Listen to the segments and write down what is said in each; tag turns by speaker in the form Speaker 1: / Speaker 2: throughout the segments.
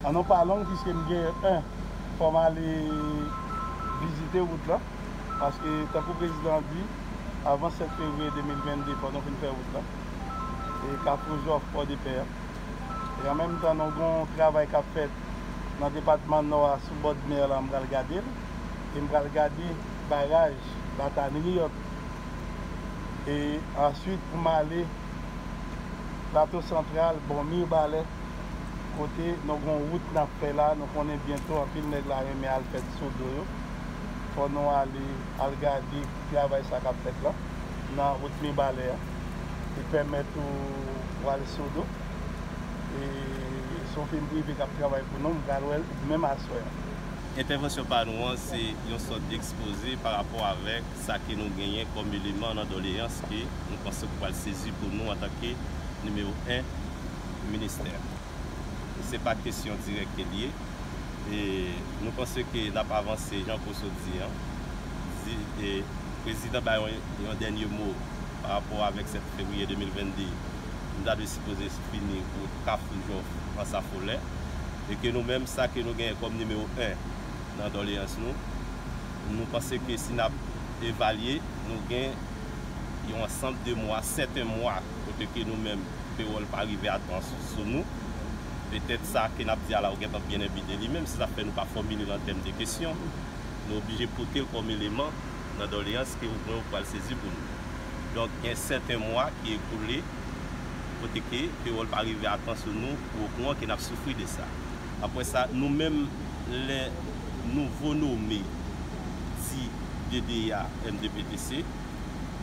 Speaker 1: An nou pa long piske m gen 1 fò m ale vizite wout lan paske tankou prezidan an di avan 7 fevriye 2022 fò nou fin fè wout lan e kafou jòf pòdepè an. e an menm tan nou gon travay kap fèt nan depatman nò a sou bord mer la m pral gadel e m pral gade baraj batanriot e answit pou m ale plato santral bò mirbalè kote nou gon wout nap fè la nou konnen byento anpil nèg la renmen al fèt sou do yo fò nou ale al gade. travay sa kap fèt lan nan wout mibalè an e pèmèt ou wal sodo e son fim prive kap travay pou nou m pral wèl menm aswè an. Entèvansyon
Speaker 2: pa nou an se yon sòt ekspoze pa rapò avèk sa ke nou genyen kòm eleman nan doleyans ke nou panse ou pral sezi pou nou antanke nimewo 1 ministè. se pa kesyon dirèk ke li ye. E nou panse ke n ap avanse jan Poso di an. Di e Prezidan bay yon dènye mo pa rapò avèk 7 fevriye 2022, nou ta dwe sipoze fini wout Kafou Jòf, Ansafolè. E ke nou menm sa ke nou genyen kòm nimewo 1 nan doleyans nou, nou panse ke si n ap evalye, nou gen yon ansanb de mwa, sèten mwa, Kote ke nou menm, kreyòl pa rive a twa sous sou nou. Petèt sa ke n ap di a la yo gentan byen enbi de li menm, se sa k fè nou pa fòmile l an tèm de kesyon. Nou oblije pote l kòm eleman nan doleyans ke ou mwen ou pral sezi pou nou. Donk, gen sèten mwa ki ekoule kote ke kreyòl pa rive a twa sou nou pou okouran ke n ap soufri de sa. Apre sa, nou menm, lè nouvo nome di DDA MDPTC,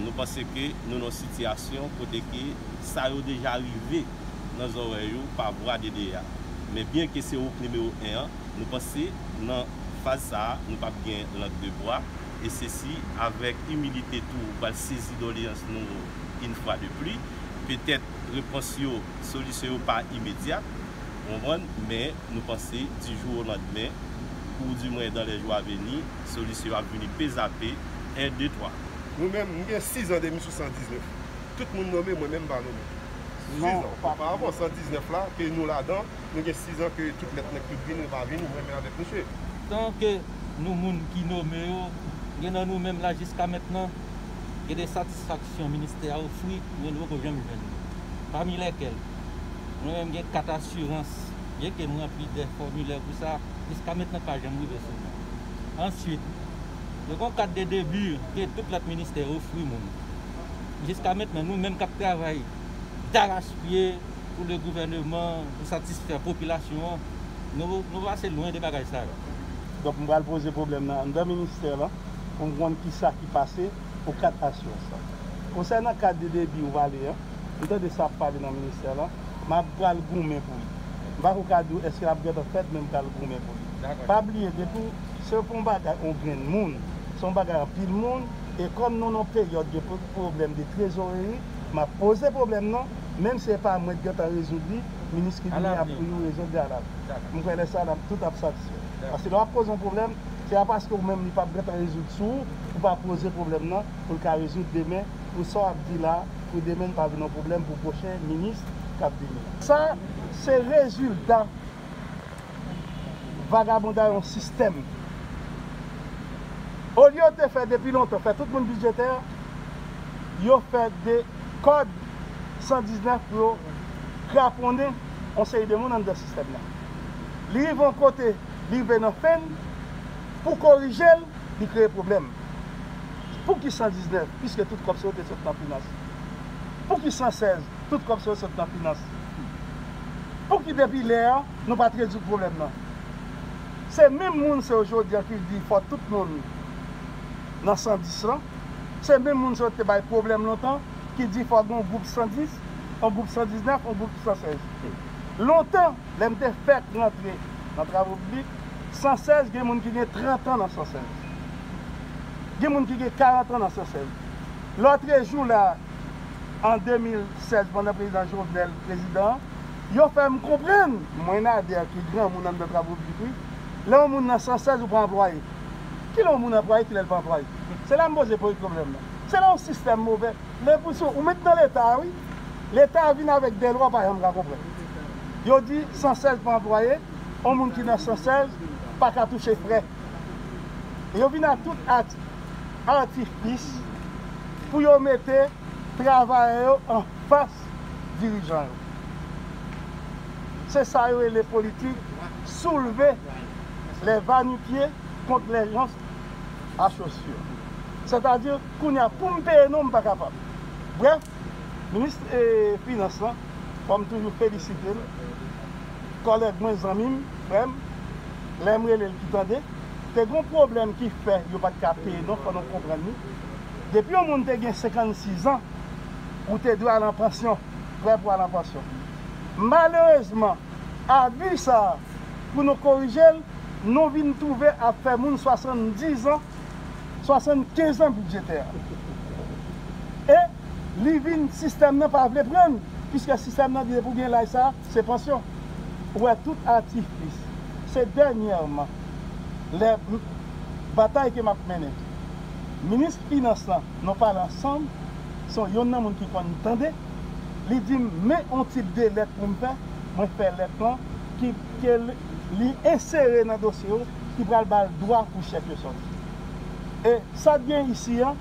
Speaker 2: Nou panse ke nou nan yon sitiyasyon kote ke sa yo deja rive nan zòrèy ou pa vwa DDA. Men byen ke se ouk nimewo 1 an, nou panse nan faz sa a nou pap gen lang de bwa e se si avèk imilite tou ou pral sezi doleyans nou in fwa de pli. Petèt repons yo, solisyon yo pa imedyat, ou konprann, men nou panse di jou o landmen ou di mwen dan lè jou a veni, Solis yo ap vini pezape 1 2 3. Mwen menm, m gen
Speaker 3: 6 an depi sou 119. Tout moun nome, mwen menm m pa nome. 6 an, oparaavan, 119 la, ke nou ladan, nou gen 6 an ke tout lèt nèg tout vini ou pa vini, mwen menm avèk misye. Tan ke
Speaker 4: nou moun ki nome yo, gen nan nou menm la jiska mentnan, gen de satisfaksyon ministè a ofri, mwen nou poko janm jwenn. Pami lèkèl, mwen menm gen 4 asirans, byenke m ranpli de fòmilè pou sa, jiska mentnan pa janm rive sou mwen. Answit, yo gen yon kat de debi ke tout lòt ministè ofri moun. Jiska mentnan, nou menm k ap travay darachpye pou le gouvèneman, pou satisfè popilasyon an, nou pase lwen de bagay sa yo. Donk m pral
Speaker 1: poze pwoblèm nan anndan ministè lan pou m konn kisa ki pase pou kat aswès lan. Konsènan kat de debi ou pale an, m tande sa ap pale nan ministè lan, m ap pral goumen pou li. M pa ko ka di w eske l ap gentan fèt men m pral goumen pou li. Pa bliye depi w se pou yon bagay yon grenn moun, se yon bagay anpil moun e kòm nou nan yon peryòd de pwoblèm de trezoreri m ap poze pwoblèm nan menm si e pa mwen ki gentan rezoud li minis ki vini ap pou yo rezoud li alavni. M kwè lè sa n ap tout ap satisfè. Paske lè w ap poze yon pwoblèm se pa paske ou menm li p ap gentan rezoud sou ou ou pa poze pwoblèm nan pou l ka rezoud demen pou sa w ap di la pou demen li pa vin yon pwoblèm pou pwochen minis k ap vini. Sa se rezilta. Vagabonday on sistèm. Olye yo te fè depi lontan fè tout moun bidjetè, yo fè de kòd 119 pou yo kraponnen on seri de moun anndan sistèm nan. Li rive on kote, li rive nan fen l, pou korije l, li kreye pwoblèm. Pouki 119 piske tout kòb sa yo te sot nan finans? Pouki 116? Tout kòb sa yo sot nan finans. Pouki depi lè an nou pat rezoud pwoblèm nan? Se menm moun sa yo jodi an ki di fò tout moun nan 110 lan, se menm moun sa yo te bay pwoblèm lontan ki di fò gen yon gwoup 110, yon gwoup 119, yon gwoup 116. Lontan lè m te fèk rantre nan travo piblik, 116 gen moun ki gen 30 an nan 116. Gen moun ki gen 40 an nan 116. Lòtrejou la an 2016 pandan prezidan Jovenel prezidan yo fè m konprann. Mwen Nader ki granmoun anndan travo piblik wi. Lè yon moun nan 116 ou pa anplwaye. Kilè yon moun anplwaye kilè l pa anplwaye. Se la m poze poy pwoblèm nan. Se la yon sistèm move. Lè pou sou ou met nan leta a wi. Leta a vin avèk dèlwa w pa janm ka konprann. Yo di 116 pa anplwaye, yon moun ki nan 116 pa ka touche frè. Yo vin a tout ati. atifis pou yo mete travayè yo anfas dirijan yo. Se sa yo rele politik soulve lè vanipye kont lè jans a chosyè. Sètadi, kounye a pou m peye non m pa kapab. Brèf, minis finans lan, kòm toujou felisite l, kòlèg mwen, zanmi m, frè m, lè m rele l ki tande te gon pwoblèm ki fè yo pat ka peye non fò nou konprann ni depi yon moun te gen 56 ans ou te dwe al an pansyon prè pou al an pansyon malerezman abi sa pou nou korije l nou vin twouve ap fè moun 70 ans 75 ans bidjetè e li vin sistèm nan pa vle pran l piskè sistèm nan di depi w gen laj sa. Se pansyon. Ou wè tout atifis. Se dènyèman lè m batay ke m ap mennen. Minis finans lan nou pale ansanm son yonn nan moun ki konn tande. Li di m men on tip de lèt pou m fè. Mwen fè lèt lan ki ke li ensere nan dosye yo ki pral ba l dwa pou chèk yo sòti. E sa k gen isi an.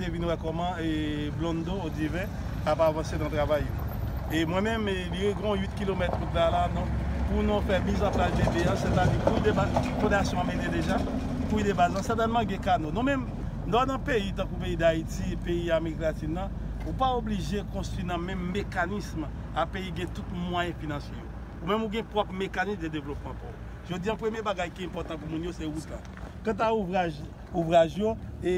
Speaker 5: Te vin wè kòman Blondo ou Divin ap avanse nan travay yo. E mwen menm, li gen yon 8 kilomèt wout la la non. Pou nou fè miz an plas debri an, sètadi kouy de baz, fondasyon an mele deja, kouy de baz lan, sètènman gen kano. Nou menm. Lè w nan peyi tankou peyi Dayiti, peyi Amerik Latin nan, ou pa oblije konstwi nan menm mekanism a peyi gen tout mwayen finansye yo. Ou menm ou gen pwòp mekanism de devlopman pa w. Jodi an premye bagay ki enpòtan pou moun yo se wout la. Kanta ouvraj, ouvraj yo e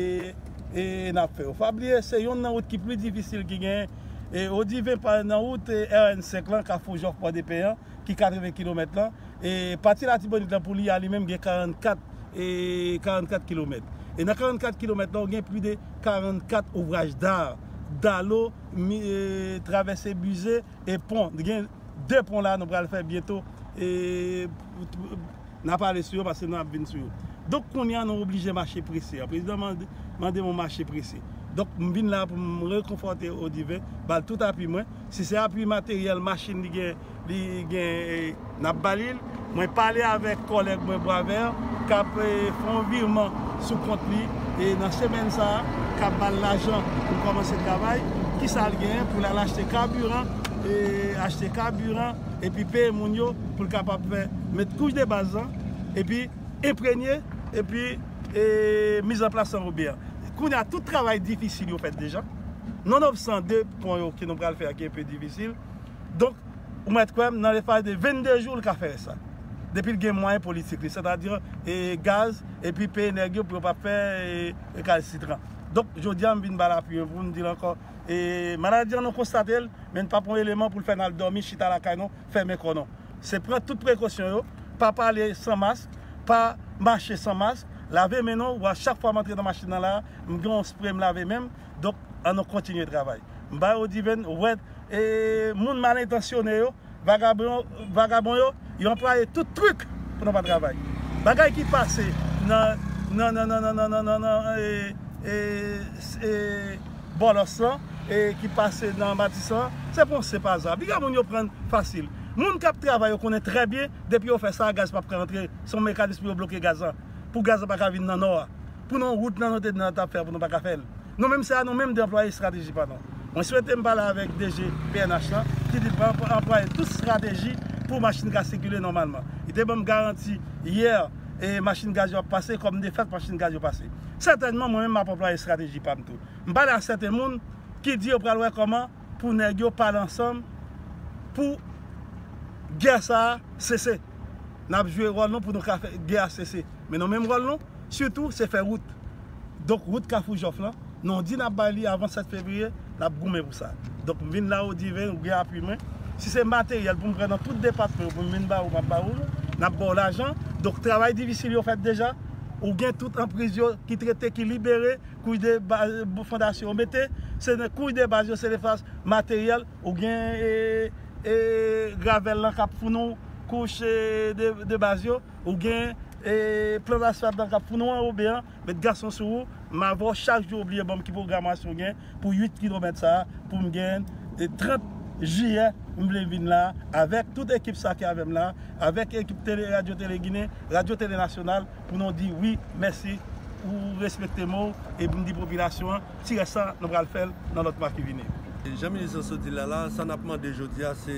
Speaker 5: e n ap fè yo. Pa bliye se yonn nan wout ki pli difisil ki genyen. E o diven pa nan wout RN 5 lan, Kafou Jòf Pòdepè an, ki 80 kilomèt lan, e pati Latibonit lan pou li a li menm gen 44 e 44 kilomèt. E nan 44 kilomèt lan ou gen pli de 44 ouvraj dar, dalo, mi, e travèse bize e pon. Gen 2 pon la nou pral fè byento e. N ap ale sou yo paske nou ap vin sou yo. Donk kounye a nou oblije mache prese. Prezidan mande moun mache prese. Donk m vin la pou m rekonfòte Odiven, ba l tout apui mwen. Si se apui materyèl, machin li gen, li gen, n ap ba li l. Mwen pale avèk kòlèg mwen Boisvert k ap fè yon vireman sou kont li nan semèn sa a, k ap ba l lajan pou l kòmanse travay. Kisa l genyen pou l al achte kabiran, achte kabiran. epi peye moun yo pou l kapab fè met kouch de baz lan epi enpremye epi mizanplas san obi a kounye a tout travay difisil yo fèt deja non of san de pon yo ke nou pral fè a ki enpe difisil donk ou mèt kwè m nan lespaj de 22 jou l ka fè rès la depi l gen mwayen politik li sètadi e gaz epi peye nèg yo pou yo pa fè rekalasitran donk jodi a m vin ba l apiy pou m di l ankò e maladi an nou konstate l men pap yon eleman poul fè nal dòmi chita lakay non fèmen kò non se pran tout prekosyon yo pa pale san mask pa mache san mask lave men nou wa chak fwa mantre nan machin nan la m gen yon spray m lave menm donk an nou kontinye travay m bay odiven wèd e moun mal entansyone yo. vagabon yo yo anplwaye tout truk pou nou pa travay bagay ki pase nan nan nan nan nan nan nan ee ee bòlòs lan ee ki pase nan matisan lan se pou yon senp aza piga moun yo prann fasil moun kap travay yo konnen trè byen depi yo fè sa gaz pap ka antre son mekanis pou yo bloke gaz lan pou gaz lan pa ka vin nan nò a. Pou nou rout nan nou te di nan tap fè pou nou pa ka fèl nou menm sa nou menm deplwaye estrateji pa nou mwen swete m pale avèk DG pnh lan ki di pap anplwaye tout strateji pou machin ka sikile nòmalman li te banm garanti yè e machin gaz yo ap pase kòm de fèt machin gaz yo pase sètènman mwen menm map anplwaye estrateji pam tou m pale a sèten moun ki di yo pral wè kòman pou nèg yo pale ansanm pou gè sa sese nap jwe ròl nou pou nou ka fè gè a sese men nou menm ròl nou. Sitou se fè wout. Donk wout Kafou Jòf lan, nan w di n ap bay li avan 7 fevriye, n ap goumen pou sa. Donk m vin la ou di ven, ou gen apui mwen. Si se materyèl pou m pran nan tout depatman yo pou m vin ba ou, m ap ba ou l, n ap ba w lajan. Donk travay difisil yo fèt deja. Ou gen tout anpriz yo ki trete, ki libere, kouch de baz, fondasyon yo mete. Se nan kouch de baz yo, se lefas materyèl. Ou gen gravèl lan k ap founou kouch de baz yo. Ou gen plan asfalt lan kap founou anrobe an, met gason sou ou, m avè w chak jou ou bliye banm ki pwogramasyon ou gen pou 8 kilomèt sa a pou m gen 30 jiyè m vle vin la avèk tout ekip sa ki avè m la avèk ekip tele radyo tele ginen radyo tele nasyonal pou nou di wi mèsi ou respekte mo w epi m di popilasyon an ti rès la nou pral fè l nan lòt mwa ki vini. Jan minis lan sot di
Speaker 6: l la, sa n ap mande jodi a se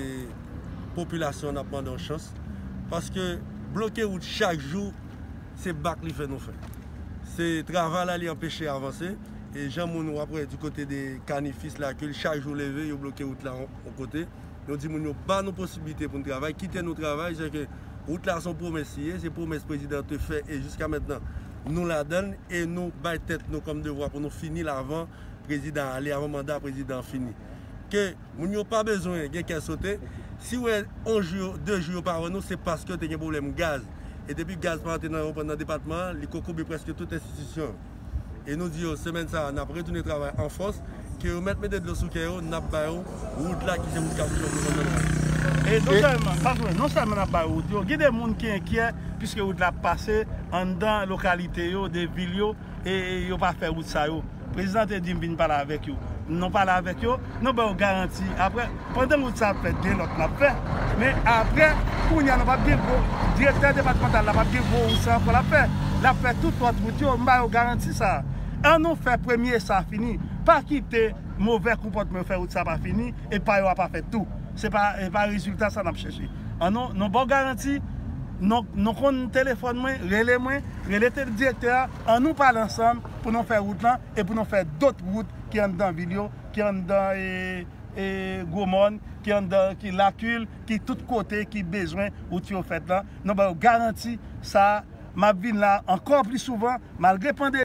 Speaker 6: popilasyon an n ap mande yon chans paske bloke wout chak jou se bak li fè nou fè se travay la li anpeche avanse e jan moun wap wè di kote de kanifis la kil chak jou leve yo bloke wout la yon kote nou di moun yo ba nou posiblite pou nou travay kite nou travay se ke wout la son pwomès li ye se pwomès prezidan te fè e jiska mentnan nou ladann e nou bay tèt nou kòm devwa pou nou fini l avan prezidan ale avan manda prezidan fini ke. Moun yo pa bezwen gen kè sote, si wè 1 jou yo, 2 jou yo pa wè nou se paske yo te gen pwoblèm gaz e depi gaz pa antre nan yon nan depatman an li kokobe prèske tout enstitisyon yo e nou di yo semèn sa a nap retounen travay an fòs ke yo mèt mete dlo sou kè yo nap ba yo wout la ki se wout kaboutchè pou nou nan e non sèlman
Speaker 5: pa jwe non sèlman nap ba yo wout yo gen de moun ki enkyè piske wout la ap pase anndan lokalite yo de vil yo e yo pa fè wout sa yo prezidan te di m vin pale avèk yo nou pale avèk yo nou ba yo garanti aprè pandan wout sa ap fèt gen lòt nap fè men aprè kounye a nou pap gen gwo direktè depatmantal la pap gen gwo wout sa ankò lap fè lap fè tout lòt wout yo m ba yo garanti sa an nou fè premye sa fini pa kite movè konpòtman yo fè wout sa pa fini e pa yo a pa fèt tou se pa e pa rezilta sa nap chèche an nou ba w garanti nou konn telefòn mwen rele mwen. Rele tele direktè a, an nou pale ansanm pou nou fè wout lan e pou nou fè dot wout ki anndan vil yo, ki anndan e gwo mòn, ki anndan ki lakil, ki tout kote ki bezwen wout yo fèt lan, nou ba yo garanti sa, map vin la ankò pli souvan malgre pandemi.